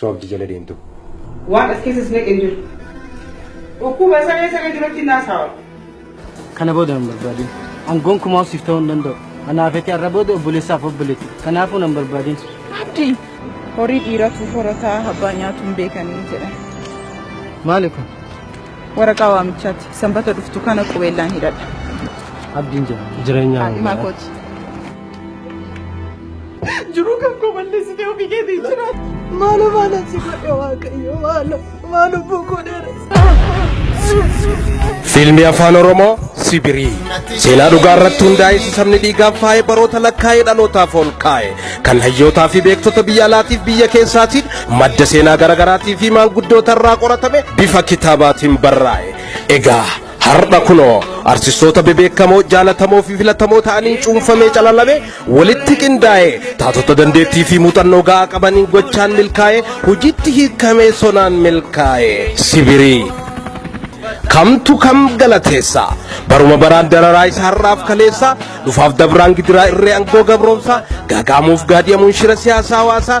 soobdi jala deemtu. Waan as keessas naqe hin jiru. Dhukkuba saree saree duratti hin haasaawa. Kana booda nan barbaadin. An gonkumaa siif ta'uu hin danda'u. Anaa feetee har'a booda obboleessaaf obboleetti. Kanaafuu nan barbaadin. Abdii horii dhiiratu horataa abbaa nyaatu hin beekanii jedhan. Maali kun? Waraqaa waamichaati. Sanbata dhuftu kana qubeellaan hidhadha. Abdiin jira. Jireenyaa. Haadhimaa kooti. Jiruu kan koo balleessitee ofii keetii jira. Maaloo maala si godhe waaqayyo maaloo maal lubbuu koo dheeressa. Fiilmii Afaan Oromoo Sibirii seenaa dhugaa irratti hundaa'e isa sabni dhiigaan faayee baroota lakkaa'ee dhalootaaf ol kaa'e kan hayyootaa fi beektota biyya alaatiif biyya keessaatiin madda seenaa garaagaraatii fi maanguddoota irraa qoratame bifa kitaabaatiin barraa'e. Egaa Har'a kunoo artistoota bebeekamoo jaalatamoo fi filatamoo ta'aniin cuunfamee calalame walitti qindaa'ee taatota dandeettii fi muuxannoo ga'aa qabaniin gochaan milkaa'ee hojiitti hiikamee sonaan milkaa'ee sibirii. Kamtu kam galateessa baruma baraan dararaa isa har'aaf kaleessa dhufaaf dabraan gidiraa irree angoo gabroomsaa gaagaamuuf gaadi'amuun shira siyaasaa hawaasaa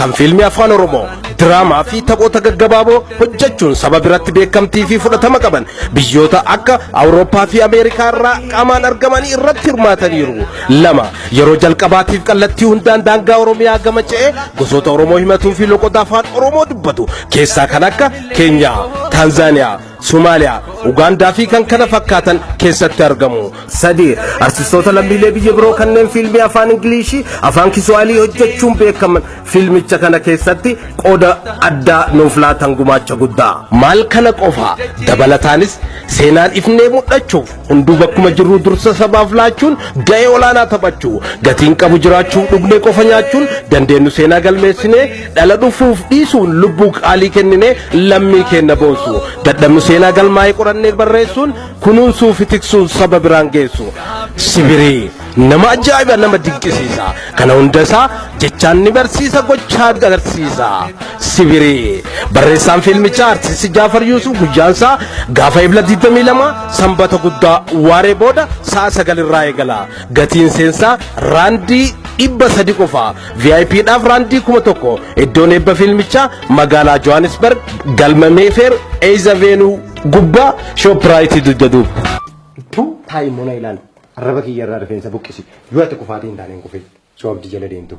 kan fiilmii afaan oromoo diraamaa fi taphoota gaggabaaboo hojjechuun saba biratti beekamtii fi fudhatama qaban biyyoota akka awurooppaa fi ameerikaa irraa qaamaan argamanii irratti hirmaataniiru lama yeroo jalqabaatiif kallattii hundaan daangaa oromiyaa gama ce'ee gosoota oromoo himatuu fi loqoda afaan oromoo dubbatu keessaa kan akka keenyaa taanzaaniyaa Somaaliyaa, Ugaandaa fi kan kana fakkaatan keessatti argamu. 3. Artistoota lammiilee biyya biroo kanneen fiilmii afaan Ingiliishii, afaan Kiswaalii hojjechuun beekaman fiilmicha kana keessatti qooda addaa nuuf laatan gumaacha guddaa. Maal kana qofaa dabalataanis seenaan ifnee mul'achuuf Hunduu bakkuma jirru dursa sabaaf laachuun ga'ee olaanaa taphachuu gatiin qabu jiraachuuf dhugnee qofa nyaachuun dandeenyu seenaa galmeessinee dhala dhufuuf dhiisuun lubbuu qaalii kenninee lammii keenya boonsu dadhabnu seenaa galmaa'ee qorannee barreessuun kunuunsuu fi tiksuun saba biraan geessu sibirii. Nama ajaa'iba nama dinqisiisa. Kana hunda isaa jechaan ni barsiisa gochaa agarsiisa. Sibirii. Barreessaan fiilmichaa artisti Jaafar Yuusuf guyyaan isaa gaafa ebla 22 sanbata guddaa waaree booda sa'a 9 irraa eegala. Gatiin seensaa raandii dhibba sadi qofa. VIP dhaaf raandii kuma tokko. Iddoon eebba fiilmichaa magaalaa Johannesburg galma Meefeer Eeyza Veenuu gubbaa Shooppiraayitii dugda duuba. Tuu taa'immoo na ilaali. Arraba kiyya irraa rifeensa buqqisi. Yoo ati kufaatii hin taane hin kufin. Soo abdi jala deemtu.